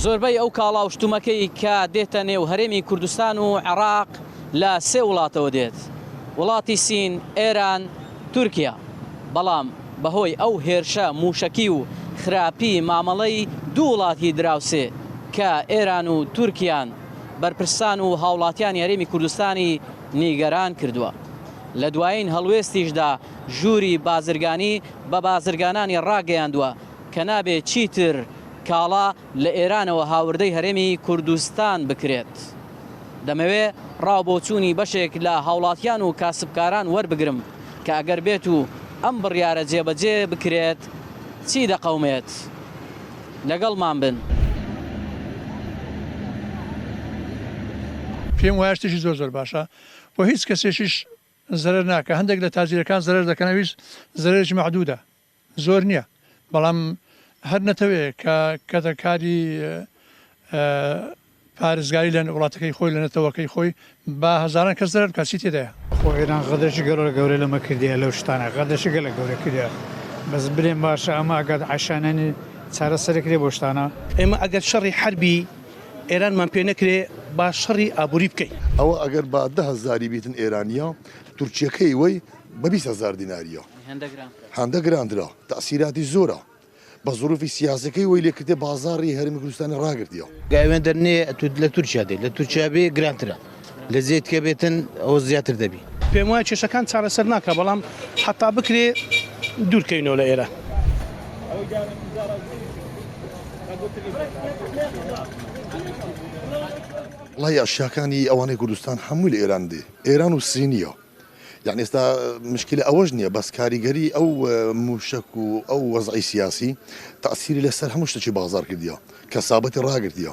زۆربەی ئەو کاڵا و شتومەکەی کە دێتە نێو هەرێمی کوردستان و عێراق لە سێ وڵاتەوە دێت، وڵاتی سین، ئێران، تورکیا، بەڵام بەهۆی ئەو هێرشە مووشەکی و خراپی مامەڵەی دوو وڵاتی دراوسێ کە ئێران و تورکیان، بەرپرسان و هاوڵاتیانی هەرێمی کوردستانی نیگەران کردووە. لە دوایین هەڵوێستیشدا ژووری بازرگانی بە بازرگانانی ڕاگەیاندووە کە نابێت چیتر کاڵا لە ئێرانەوە هاوردەی هەرێمی کوردستان بکرێت دەمەوێت ڕاوبۆچوونی بەشێک لە هاوڵاتیان و کاسبکاران وەربگرم کە ئەگەر بێت و ئەم بڕیارە جێبەجێ بکرێت چی دەقەومێت لەگەڵمان بن. پێم وایە شتێکی زۆر زۆر باشە و هیچ کەسێکیش زەرەر ناکا هەندێک لە تاجیرەکان زەرەر دەکەن ئەویش زەرەرێکی مەعدودە زۆر نییە بەڵام هەر نەتەوێ کە کەتەکاری پارێزگاری لە وڵاتەکەی خۆی لە نەتەوەکەی خۆی با هەزاران کەس زەرەر بکات چی تێدایە خۆ ئێران غەدرێکی گەلۆ لە گەورە لەمە کردیە لەو شتانە غەدرێکی گەلە گەورە کردیە بەس برێن باشە ئەمە ئەگات عەشانانی چارەسەری کرێ بۆ شتانە ئێمە ئەگەر شەڕی حەربی ئێرانمان پێ نەکرێ با شەڕی ئابووری بکەین. ئەوە ئەگەر با دە هەزاری بیتن ئێرانییە، تورکییەکەی وەی بە بیست هەزار دینارییە. هەندە گرانترە. تەئسیراتی زۆرە. بە زرووفی سیاسییەکەی وەی لێ کردیە بازاڕی هەرێمی کوردستانی ڕاگرتیە. گاوێندە نێ لە تورکیا دێ، لە تورکیا بێ گرانترە. لە زێ تکێ بێتن ئەوە زیاتر دەبی. پێم وایە کێشەکان چارەسەر ناکا بەڵام حەتا بکرێ دوور کەینەوە لە ئێرە. وەڵاهی ئەشیاکانی ئەوانەی کوردستان هەمووی لە ئێران دێ ئێران و سینیە یعنی ئێستا مشکلە ئەوەش نییە بەس کاریگەری ئەو موشک و ئەو وەزعی سیاسی تاسیری لەسەر هەموو شتێکی بازار کردیە کەسابەتی ڕاگرتیە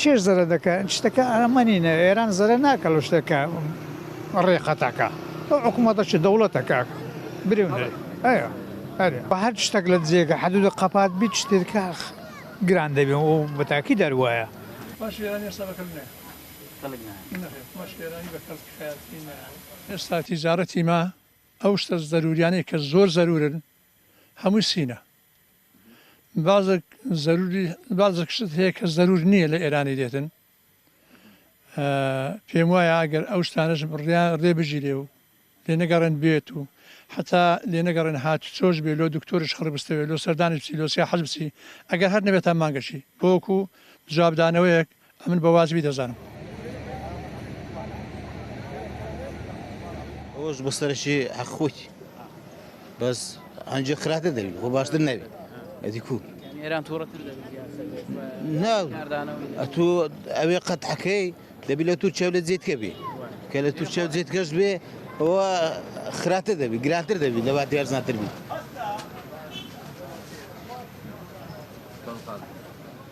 چێژ زەرە دەکە شتەکە ئەمە نینە ئێران زەرە ناکە لە شتەکە ڕێ قەتەکە ئەو حکوومەتە چ دەوڵەتە کاک برێ ئەە ئەرێ بە هەر شتەک لە جێگە حدود قەپات بیت شتێت کاخ گران دەبێ و بەتاکی دەروایە باش ئێرانی ئێستا بە کەلک نایە کەلک نایە نەخێر باش ئێرانی بە کەلک خەیاتی نایە ئێستا تیجارەتی ما ئەو شتە زەرووریانەی کە زۆر زەروورن هەمووی سینە بازک زەروری بازک شت هەیە کە زەرور نییە لە ئێرانی دێتن پێم وایە ئەگەر ئەو شتانەش بڕیان ڕێ بگیرێ و لێ نەگەڕێن بێت و حتا لێ نەگەڕێن هات چۆش بێ لۆ دکتۆرش خڕ بستەوێت لۆ سەردانی بچی لۆسیا حەز بچی ئەگەر هەر نەبێت تا مانگەشی بۆکو جوابدانەوەیەک ئەمن بە واجبی دەزانم. ئەوەش بە سەرشی حەق خۆتی بەس ئەنجە خراپە دەبی خۆ باشتر نەبی ئەدی کو ئێران تووڕەتر نا ئەتو ئەوێ قەت حەکەی دەبی لە تورکیا لە جێتکە بێ کە لە تورکیا جێتکەش بێ ئەوە خراپە دەبی گرانتر دەبی لەوا دیارزانتر بی.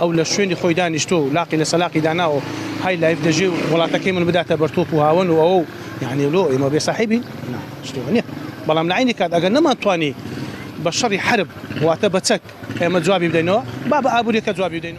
ئەو لە شوێنی خۆی دانیشتووە و لاقی لە سەلاقی داناوە و های لایف دەژێ و وڵاتەکەی من بداتە بەر تۆپ و هاوەن و ئەوە و یانی لۆ ئێمە بێ ساحێبین؟ نا شتێ وە نیە بەڵام لە عەینی کات ئەگەر نەمانتوانی بە شەڕی حەرب واتە بە چەک ئێمە جوابی بدەینەوە با بە ئابووریەکە جوابی بدەین.